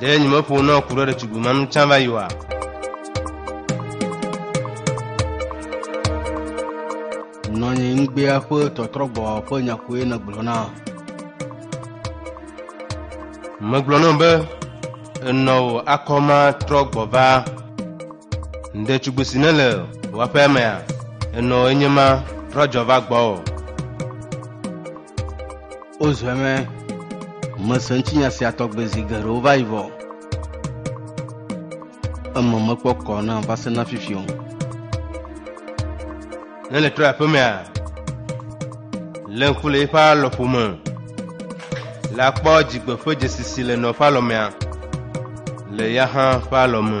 Ɖe nyemeƒo na ku ɖe ɖetugbui ma nu tsã va yi oa? Nɔnyi ŋgbea ƒe tɔtrɔgbɔ ƒe nya koe nègblɔ na. Megblɔ nɔ be enɔ wò akɔma trɔ gbɔ va. Ɖetugbui si nele wò aƒea mea, enɔ enye ma trɔ dzɔ va gbɔwò. Wozɔe mɛ. Mese ŋutinya sia tɔgbe zi geɖewo va yi vɔ. Eme mekpɔ kɔ nam va se na fifi o. Ne nètrɔ yi aƒemea, lé ŋku le eƒe alɔƒo me. La kpɔ dzigbe ƒe dzesi si le nɔ ƒe alɔmea, le ya hã ƒe alɔme.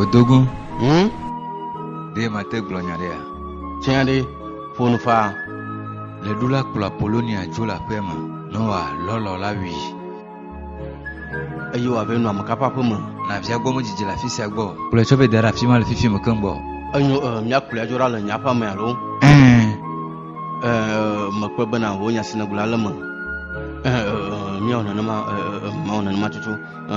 Odogun, Hm? ɖe mate gblɔ nya ɖea? Tiã ɖe, ƒo nu faa. Ɣeɖula kplɔ Apolonia dzo le aƒea me. Noa lɔlɔ̃ la wui. Eye wòava enu ame ka ƒe aƒe me? Na via gbɔ medzidzi le afi sia gbɔ. Kplɔe tsɔ vɛ da ɖe afi ma le fifi me keŋ gbɔ. Enyo, e, míakplɔe adzo ɖa le nye aƒea me alo? Ẽ, ẽ, mekpɔe bena wò nya si nègblɔ la le eme. Ẽ, ẽ, ẽ, míawɔ nenema, ẽ, ẽ, ẽ, mawɔ nenema tutu. Ẽ.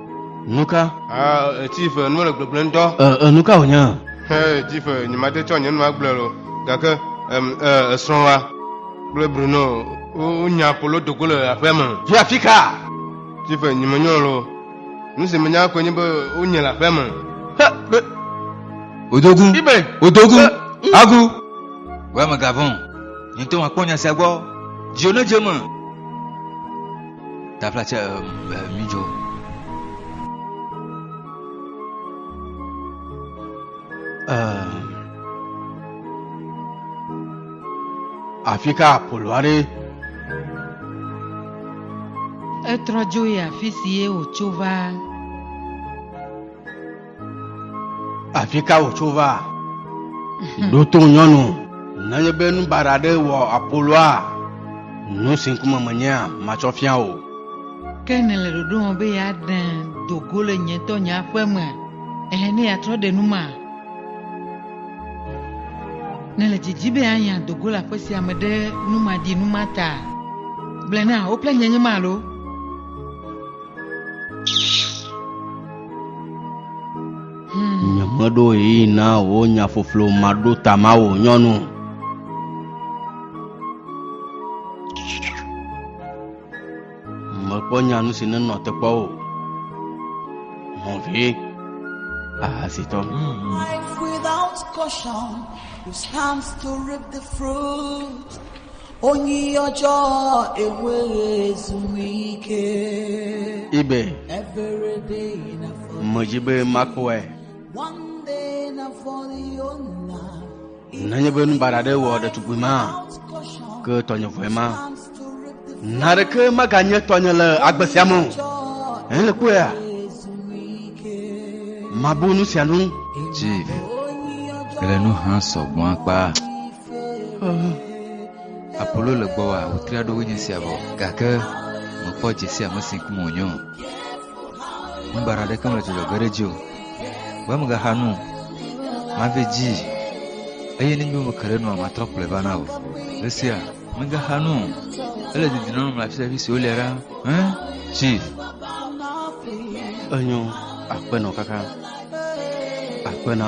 Nu ka? Ah, Chief, nu mele gbegblẽ ŋutɔ. Eh, eh, nu ka wònye? Hey, Chief, nyemate tsɔ nye nu agblɔe o, gake em, eh, esrɔ̃wa kple Bruno wo- wonya polo dogo le aƒea me. Yi afi ka? Chief, nyemenyrɔ le o. Nu si menya koe nye be wonye le aƒea me. He, be, Odogu. Ibe. Odogu. Eh, mm. Agu. Wɔ megavɔn. Nye ŋutɔ makpɔ nya sia gbɔ. Dziwò nedze eme. Taflatse midzo. Afi ka Apolo aɖe? Etrɔ dzo yi afi si ye wòtso va. Afi ka wòtso va? Ɖo to nyɔnu. Nenye be nu baɖa aɖe wɔ Apoloa, nu si ŋkume menyea, matsɔ fia wò. Ke nèle ɖoɖo wɔm be yeaɖe do go le nye ŋutɔ nye aƒe me, ɛ̃, ne yeatrɔ ɖe nu ma? Nèle didim be yeanya do go le aƒe sia me ɖe nu maɖi nu ma ta? Gblɔe na, wo kple nye nye ma alo? Nyemeɖo ɣeyiɣi na wò nyaƒoƒlo maɖo tama wò nyɔnu. Mekpɔ nyanu si nenɔ teƒe o. Mɔvi ahasitɔ. Life without caution, you stand to reap the fruit. Onyi ọjọ́ ewé zumi ike. Ibe. Every day na fọ. Mọ̀dzi be makó ẹ. One day na fọ yóò na. Nenye be nubaɖa ɖe wɔ ɖetugbui ma, ke tɔnye vɔe ma. Na ɖeke maganye tɔnye le agbe sia me o. Èle kpɔe ya. Mabu nu sia nu. Chief, ele nu hã sɔgbɔ akpa. Apolo le gbɔ wa wotri aɖo wonye sia vɔ gake mekpɔ dze sia ame si kum wònyo ŋubara ɖeke mele dzɔdzɔ ge ɖe dzi o be megaxa nu mavi dzi eye nenye womeke ɖe nua matrɔ kplɔe va na o le sia megaxa nu ele didi nɔnɔ mle afi sia afi si wolia ɖa hã tsi enyo akpenɔ kaka akpenɔ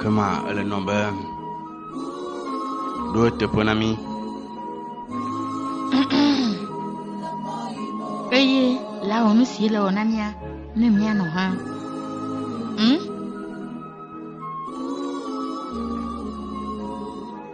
Ke ma ele nɔ be ɖo eteƒe na mí. Eye la wɔ nu si le wɔ na mía ne míanɔ hã. Hmm?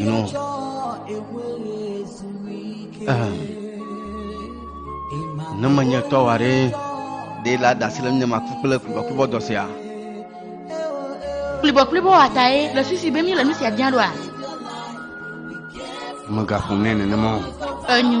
Gnɔ. Ehem. Ne menye tɔ wa ɖe ɖe la dasi le nye maku kple kubɔkubɔ dɔ sia. Kplibɔkplibɔ wa tae le susu be mi le nu sia bia ɖoa? Megaƒo nɛ nenema o. Enyo.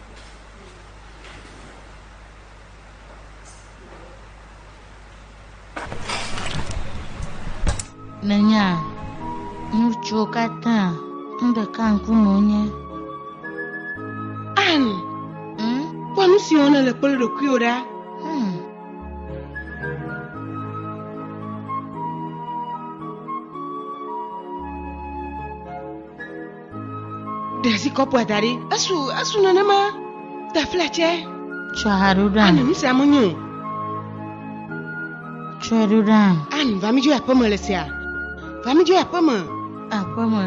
Nènya ŋutsuwo katã nu ɖeka ŋkume wonye. Ann, Hmm? kpɔ nu si wɔna le kple ɖokuiwò ɖa. Hmm. Ɖe asi kɔpua da ɖi. Esu esu nenema. Te fletsɛ. Tsɔ ha ɖo ɖa. Ani nu sia menyo. Tsɔ ɖo ɖa. Ani va mi dzo aƒeme le sia. Va mi dzo aƒeme. Aƒeme.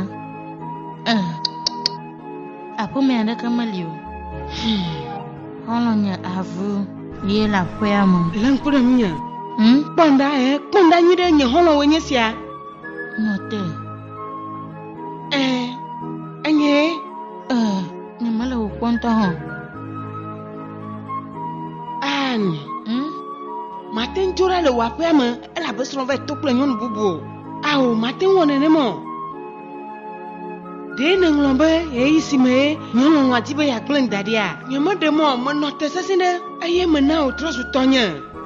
Eh. Aƒeme aɖeke meli o. Hmm. Xɔlɔ nye avu. Ye le aƒea me. Le ŋkpɔ ɖe ŋunye. Hmm? Kpɔnda eh. Kpɔnda nyuie ɖe nye xɔlɔwo nye sia. Nɔte. Ɛɛ, enye. Ɛɛ, nyemele wò kpɔ ŋutɔ hã. Ann. Hmm? Mate ŋu ɖa le wò aƒea me elabe srɔ̃ va to kple nyɔnu bubu o. Ao, mate ŋu wɔ nenem o. Ɖee nèŋlɔ be ɣeyiɣi si mee nyɔlɔlɔ̃a di be yeagblẽm da ɖia? Nyemeɖe mɔ menɔ te sesẽ ɖe eye mena wòtrɔ zu tɔnye.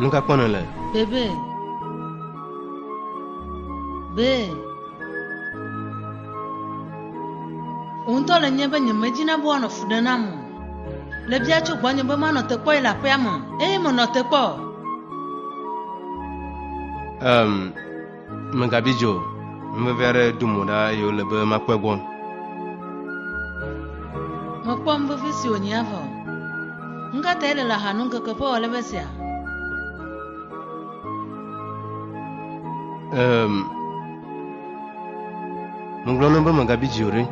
Nu ka kpɔ nèle? Bebe. Be. Wò ŋutɔ le nye be nyemedi na be woanɔ fu ɖe nam o. Le bia tso gbɔnye be manɔ te kpɔe le aƒea me, eye menɔ te kpɔ. Em. Um, Mègabi dzi o, nuvevi aɖe ɖo mo ɖa eye wòle be makpɔe gbɔ. Mekpɔ nuvevi si wònyi hafi o. Nu ka tae le le aha nu ŋkeke ƒe wòale be sia? Ehm, megblɔ na wo be megabi dzi o ɖe.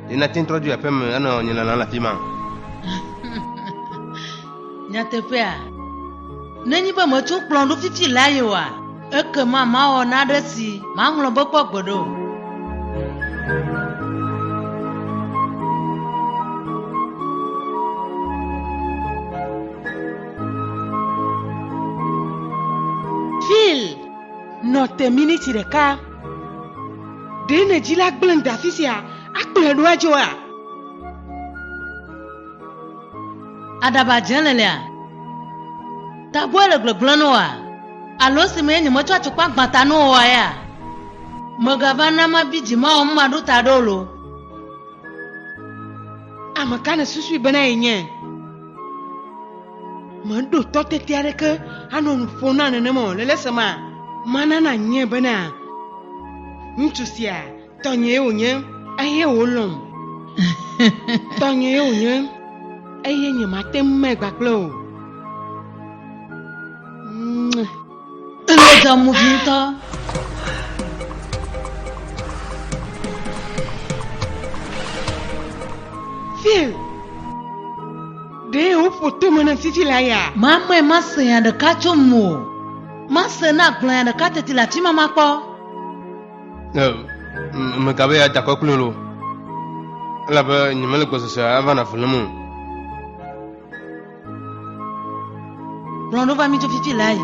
Ɖe nate ŋu trɔ dzo aƒeme anɔ nye lala le afi ma? Nyateƒea? Nenye be metso kplɔ̃ ɖo fifi la ye oa, ekema mawɔ naɖe si maŋlɔ be kpɔ gbe ɖo. Phil, nɔ te miniti ɖeka. Ɖe nèdzi la gblẽ da afi sia akplɔe ɖo adzo oa? Aɖaba dze le lea? Tagbɔe le gblegblẽ no oa? Alo esi mee nyemetsɔ atukpa gbã ta no oa ya? Mègava na mabi dzi mawɔ nu maɖo ta ɖe o lo. Ame ka nèsusui bena yenye? Meɖo tɔ tete aɖeke anɔ nu ƒom na nenema o le le esema. Mana nànyie bena ŋutsu sia Tɔnyee wònye, eye wòlɔ̃m. Tɔnyee wònye, eye nyemate ŋu mɛ gbagblẽ o. Èdzɔ movi ŋutɔ. Phil, ɖe woƒo tome na fifi la ya? Mamɔe mase nya ɖeka tso ŋuwò. Mase ne agblɔ nya ɖeka teti le afi ma makpɔ. Megabe ya dakɔ kple lo, elabe nyemele gbɔsɔsɔ ava na velem o. Kplɔ ɖo va mi tso fifi la yi.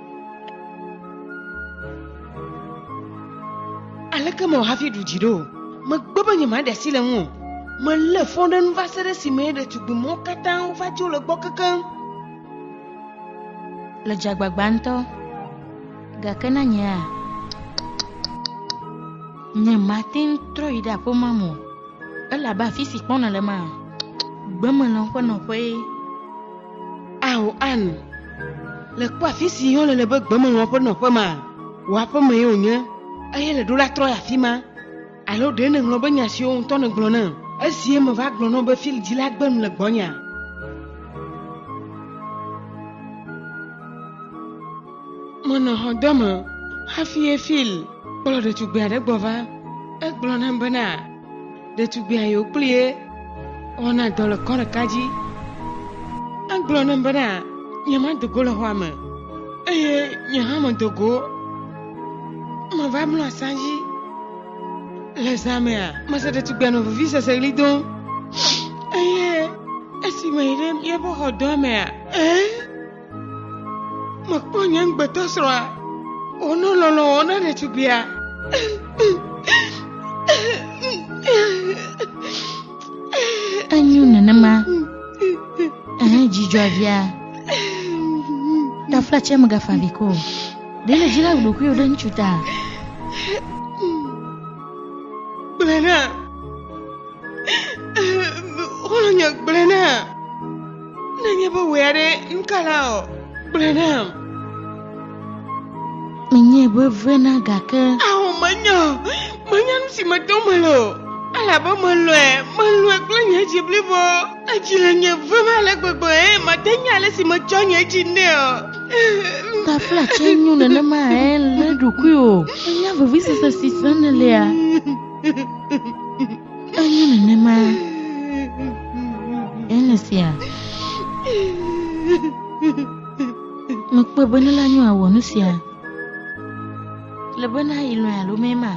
Aleke mewɔ hafi ɖu dzi ɖo? Megbe be nyemaɖe asi le ŋu o. Melé fɔ ɖe nu va se ɖe esime ɖetugbi mɔwo katã wova dzo le gbɔ kekeŋ. Le dzagbagba ŋutɔ. Gake na nyea, nyemate ŋu trɔ yi ɖe aƒemea me o, elabe afi si kpɔna le ma, gbemelã ƒe nɔƒee. Ao Ann, le kpɔ afi si yɔ le le be gbemelɔn ƒe nɔƒe ma? Wò aƒe mee wònye, eye le ɖo la trɔ yi afi ma. Alo ɖe nèŋlɔ be nya siwo ŋutɔ nègblɔ nam esie meva gblɔ na wò be field dzila gbe nu le gbɔnyea? Menɔ xɔdɔ me hafi ye Phil kplɔ ɖetugbui aɖe gbɔ va. Egblɔ nam bena. Ɖetugbia yewo kpli ye wɔna dɔ le kɔ ɖeka dzi. Egblɔ nam bena nyemado go le xɔa me eye nye hã medo go. Meva mlɔ asa dzi. Le zã mea, mese ɖetugbia nɔ veviseseɣli dom eye esi meyi ɖe míaƒe xɔdɔa mea, ee, Mekpɔ nye ŋugbetɔsrɔ̃a wònɔ lɔlɔ̃ wɔm na ɖetugbuia. Enyo nenema. Ehe dzidzɔa via. Ɖaflatsia megafa avi ko o. Ɖe le dzila ɖokuiwò ɖe ŋutsu ta. Gblẽ na. Xɔlɔ̃nye gblẽ na. Ne nye be wòe aɖe, nu ka la ɔ? Gblɔe nam. Menyae be vena gake. Ao, menya o. Menya nu si metom mele o. Elabe melɔ̃e, melɔ̃e kple nye dzi blibo. Edzi le nye vem ale gbegbe eye mate nya ale si metsɔ nye dzi nɛ o. Taflatse nyo nenema he eɖokui o. Ènya vevisese si sem nèlea? Enye nenema. Ene sia. Mekpɔe be ne la nyo awɔ nu sia. Le bena yi lɔe alo mema.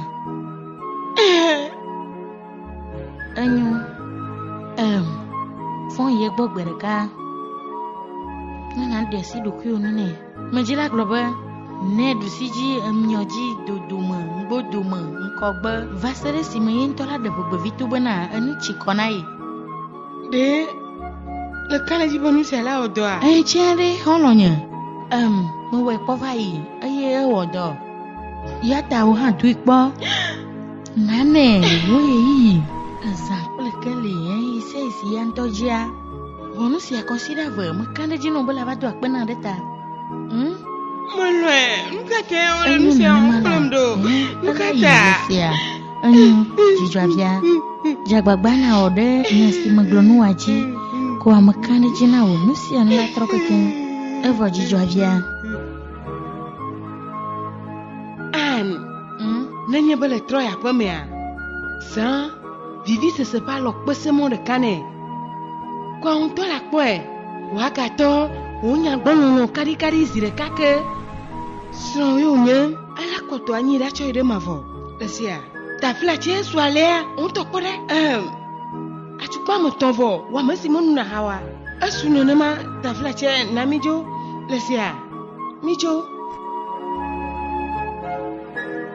Enyo. Em. Fɔn ye gbɔ gbe ɖeka. Nana ɖe asi ɖokuiwo nu nɛ. Medzí la gblɔ be, Ne ɖusi dzi ŋmiɔ dzi dodome, ŋgbodome, ŋkɔgbe, va se ɖe esime ye ŋutɔ la ɖe ʋegbevito bena enu tsi kɔ na ye. Ɖe le ka le dzi be nu sia la wɔ dɔa? Eye tsɛ ɖe, xɔlɔ̃nye? Em, mewɔe kpɔ va yi, eye ewɔ dɔ. Eya ta wò hã doe kpɔ. Nane, wò ɣeyiɣi, azã kple keli, ɣeyiɣi sia ɣi si eya ŋutɔ dzia. Wɔ nu sia kɔsiɖa eve meka ɖe edzi nɔ bela va do akpe na ɖe ta. Hm? Melɔe, nu ka ta wole nu sia wɔm kplɔm ɖo? Nu ka ta? Enyo, dzidzɔavia, dze agbagba nawɔ ɖe nya si megblɔ nu wa dzi, ko ame ka ɖe dzi na wò nu sia nu la trɔ keke, evɔ dzidzɔavia. Anne, hm? nenye be le trɔ aƒemea, zã vivisese ƒe alɔ kpese mɔ ɖeka nɛ. Ko ao ŋutɔ la kpɔe. Woagatɔ wò nya gbɔ lɔlɔ kaɖikaɖi zi ɖeka ke. Srɔ̃ ye wònye. Alea kɔtɔ anyi ɖa tsɔ yi ɖe mavɔ. Esia. Tafla tsɛ su alea ŋutɔ kpɔ ɖa. Ɛm. Atukpa ame etɔ̃ vɔ wɔ ame si menu na hawa. Esu nenema tafla tsɛ na mí dzo. Lesia. Mí dzo.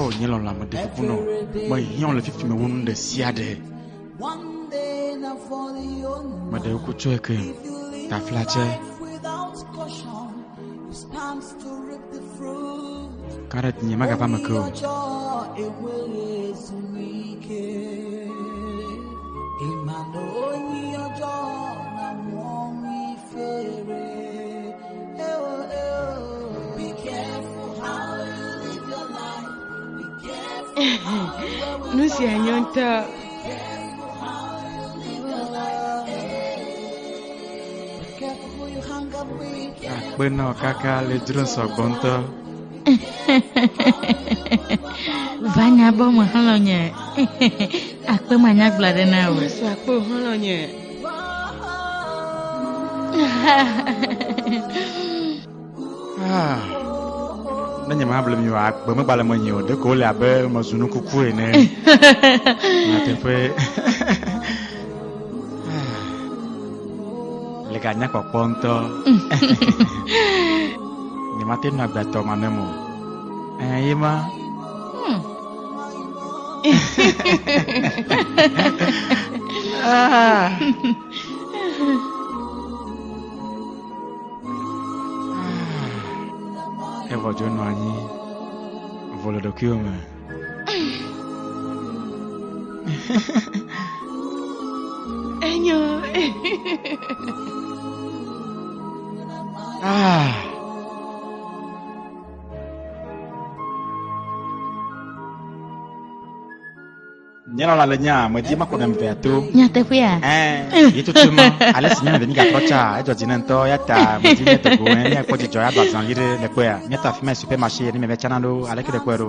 O nye lɔlɔ ame ɖe ƒoƒo nɔ, me hiã le fifi me wo nu ɖe sia ɖe. Me ɖe ko tsɔe ke, tafla tsɛ. Kare tinye magava me ke o. nu sia nyɔ ŋutɔ akpenɔ kaka le dzro sɔgbɔ ŋutɔ vanya bɔ me xlɔ̃nye akpe manyagblɔ ɖe na o Yesu akpe o xlɔ̃nye Ah. ne nye mable mi o agbe megbale menye o ɖeko wole abe mezu nu kuku ene nyateƒe ah. le ganya kpɔkpɔ ŋutɔ nyemate nu agbetɔ ma ne mo eh, ye ma hmm. Evɔ dzo nɔ anyi vɔ le ɖokuiwo me. Enyo. Ah. nyalala le nya me di makɔ ɖem vea to nyateƒea ɛɛ yi tutu ma ale si nyɔnu ɖe mi gatrɔ tsa edzɔ dzi ne ŋutɔ ya ta me di ne tɔgbo ɛ ne kpɔ dzidzɔ ya do azã yi ɖe le kpɔa nyata fi ma super marché ne mɛ vɛ tsana ɖo ale ke ɖe kpɔe ɖo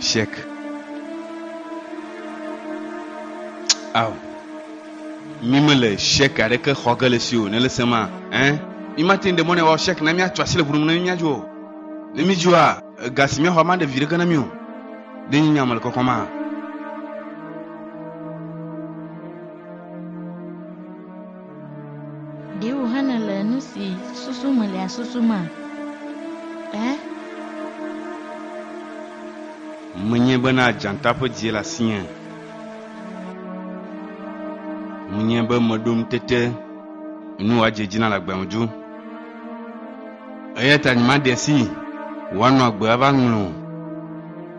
Shek. Ao. Mi me le shek aɖeke xɔ ge le si o, ne le se ma, hein? Mi ma ten de mɔ ne wa shek na mi atso asi le ʋunu ne mi mia jo. Ne mi jo a, ga si mia xɔ ma de vi ɖeke na mi o. De nyi nya me le kɔkɔ ma. Ɖe wòhana le nu si susu melia susu ma? Ẽ? Menye bena dzata ƒe dzie le asinye. Menye be meɖo ŋutete nu wòadze dzi na le agbeame dzo. Eya ta nyemaɖe asi wòanɔ agbe ava ŋlɔ o.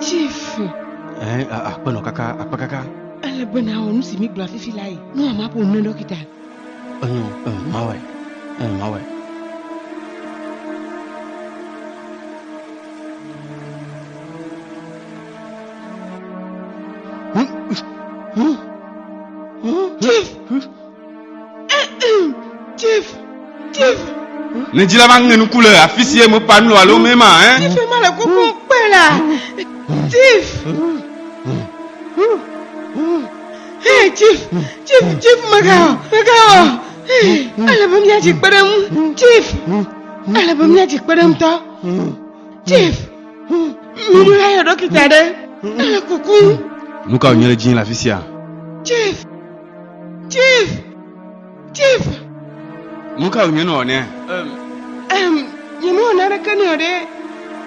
Chief. Eh, akpenɔ kaka, akpe kaka. Ele be na wɔ nu si mi gblɔ afifi la yi. Nu ama ƒo nu dɔkita. Enyo, eh, mawɔe, eh, mawɔe. Chief. Ne dzi la va ŋe nuku le afi si eme pa nu alo me ma ɛ. Tife ma le koko kpe la. Tif. Hei Tif, Tif, Tif megawɔ, megawɔ. Ale be míadzi kpe ɖe ŋu. Tif. Ale be míadzi kpe ɖe ŋu tɔ. Tif. Minu la yɔ ɖɔkita ɖe. Ele kuku. Nu ka wònye le dzi le afi sia? Tif. Chief! Chief! Nu ka wònye nɔ nɛ? Em, nyemewɔ naneke nɛ o ɖe.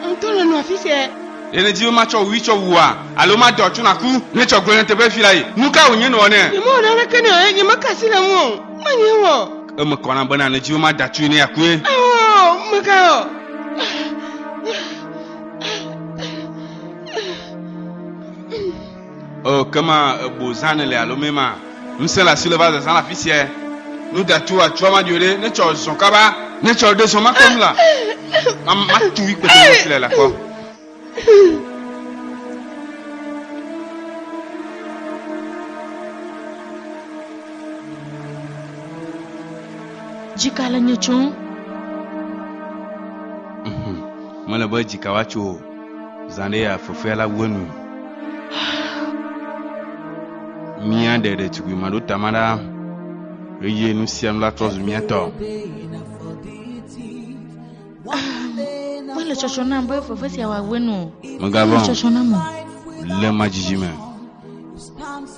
Ŋutɔ le nɔ afi sia. Ɖe nèdi be matsɔ wui tsɔ wua alo maɖe wòatso nàku? Ne tsɔ gblẽ nyateƒe fi la yi. Nu ka wònye nɔ nɛ? Nyemewɔ naneke nɛ o eye nyemeka asi le eŋu o. Menyae wɔ o. Ke mekɔ nam bena nèdi be mada tui ne akue. Ao, meka o. O kema ebo zan le alo me ma. Ŋsẽ le asi le va zazã le afi sia. Nu datu atsɔ ma dio ɖe ne tsɔ zɔn kaba ne tsɔ ɖe zɔn ma kɔ nu la. Ma ma tu wi kpete ne fi le la kɔ. Jika le nye tso. Mele be jika wa tso. Zandaya fefea la wue nui. Mía ɖe ɖetugbui maɖo tama ɖa eye nu sia nu la trɔ zu mía tɔ. Mele tsɔtsɔ nam be fefe sia wòawue nu. Megavɔn. Tsɔtsɔ nam o. Le ma dzidzime.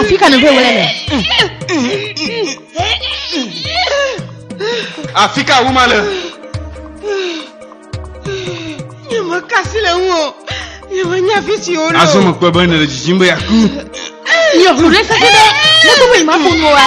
Afi ka nèɖo wlɛ le? Afi ka wu ma le? Nyemekasi le ŋu o. Nyemenya afi si wole o. Azɔ mekpɔe be nèle dzidzim be yeaku. Nyɔ ʋlu ɖe sese ɖe negbe be nyemaƒo nu oa.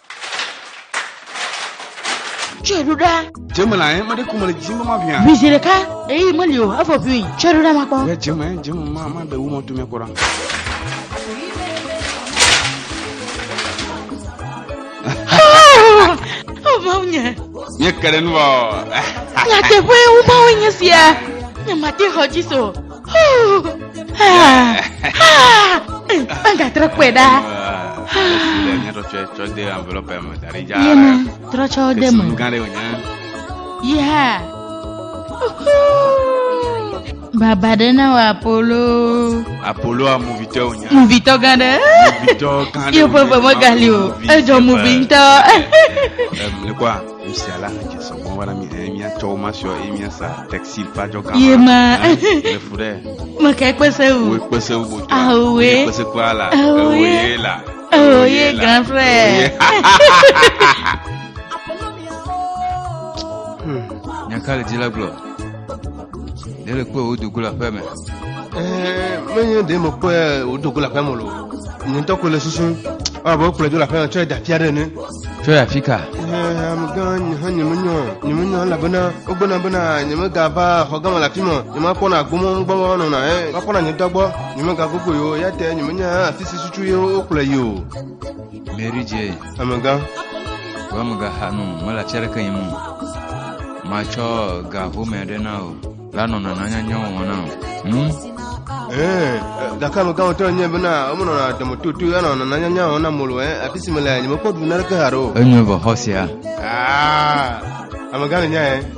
Tsɔe ɖo ɖa. Dzeme la yẹn, mɛɖe kɔmɛ le dzi mama ʋia. Ʋui zi ɖeka, eyi meli o, efɔ ʋui. Tsɔe ɖo ɖa makpɔ. Yɛ dzeme, dzeme ma ma ɖe wumɔ to mɛ kɔ ɖa. Mawu nye. Nye ke ɖe nu vɔ. Nyateƒe wumawo nye sia. Nye mate xɔ dzi so. Banga trɔ kpɔe ɖa. Yena trɔ tsɔ de me. Yeah. Baba ɖe na wa Apollo. Apollo a muvitɔ wonya. Muvitɔ gã ɖe. Muvitɔ gã ɖe. Yewo ƒe veme gali o. Edzɔ muvi ŋutɔ. Ɛm, ne kɔ a. Lucia la hã dze sɔ gbɔ wana mi eye míatsɔ wo masiɔ eye míasa taxi ƒe adzɔga. Ye ma. Le fu ɖe. Meke kpese wu. Wo kpese wu botoa. Awoe. Wo kpese kpɔa la. Awoe la. Awoe grand frère. Nyaka le dzi la gblɔ. ɖe le kpɔe wodo go le aƒe me ɛɛ menye ɖe me kpɔe wodo go le aƒe me lo nye ŋutɔ ko le susu abe wokplɔe do le aƒe me tsɔ da fia ɖe ne tsɔ yi afi ka ɛɛ amegã nye hã nyemenyɔ nyemenyɔ elabena wogbena bena nyemegava xɔ gama le afi me nyemakpɔna gbɔmɔ gbɔmɔ nɔna ɛ makpɔna nye ŋutɔ gbɔ nyemegagogo yi o ya te nyemenya afi si susu ye wokplɔe yi o mary jane Amegã, wò amegaxa nu mele atsi aɖeke yim o. Matsɔ ga home aɖe na wò. La nɔna nanyanyawo wɔm na wò. Nu Ee, gake amegã ŋutɔ enye bena womenɔna ademototo ya nɔna nanyanya wɔm na molo ɛ afi si mele nyemekpɔ ɖu naneke haɖe o. enyo vɔ xɔ sia. Aa, amegã le nya ɛ.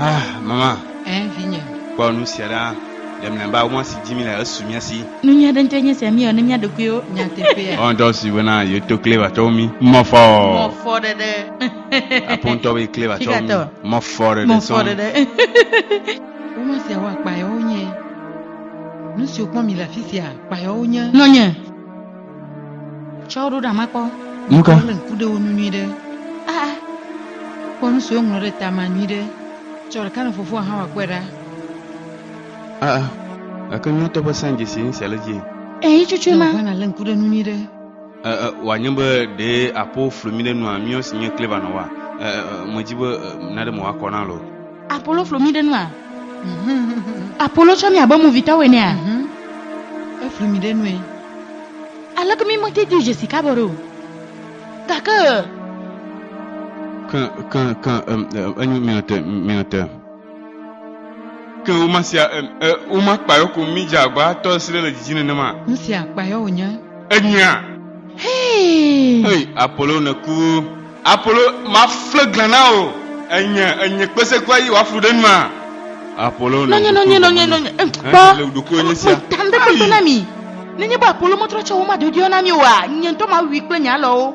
Ah, mama. Eh, vinye. Kpɔ nu sia ɖa le mlɛba mɔ si dzi mi le esu mía si. Nu nyui aɖe ŋutɔ nye sia míewɔ ne mía ɖokuiwo nyateƒea. Ɔn dɔ si wena yeto kle va tɔwo mi. Mɔfɔ. Mɔfɔ ɖeɖe. Apontɔwe kle va tsɔ Tigatɔ. mɔ fɔ ɖe ɖe Mɔfɔ sɔn. ɖe ɖe. Woma siawo akpayawo nye. Nu siwo kpɔm mi le afi sia akpayawo nye. Nɔnye. Tsɔ ɖo ɖa ma kpɔ. Nu ka? Wole ŋku ɖe wo nu nyui ɖe. Aa. Kpɔ nu siwo ŋlɔ ɖe ta ma nyui ɖe. Tsɔ ɖeka ne fofoa hã wòakpɔe ɖa. Ah, ah. Gake nyɔtɔ ƒe sãdzesi ŋu sia le dzi. Eyi cucui ma. Ʋana le ŋku ɖe nu nyui ɖe. wòanye be ɖe aƒo flu mi ɖe nua miɔ si nye kleva nɔ wa medzi be naɖe mo akɔ na lo apolo flu mi ɖe nua apolo tsɔ mi abe movitɔwo enea mhm. eflu mi ɖe nue aleke mi mete di dzesi kabɔ ɖo gake ke ke ke enyo miate miate Ke woma sia em, e, woma kpayɔ ko mí dze agbaa tɔ esi ɖe le didi nenema. Nu sia kpayɔ wònye. Enyea. Hee. Hei, Apolo nèku. Apolo, mafle glã na wò. Enye, enye kpesekua yi wòaflu ɖe nua. Apolo nɔ. Nɔnye, nɔnye, nɔnye, nɔnye. Eh, kpɔ. Le ɖokuiwò nye sia. Meta ŋɖe kpekpe na mi. Nenye be Apolo metrɔ tsɔ woma dodoeɔ na mi oa, nye ŋutɔ mawui kple nye alɔwo.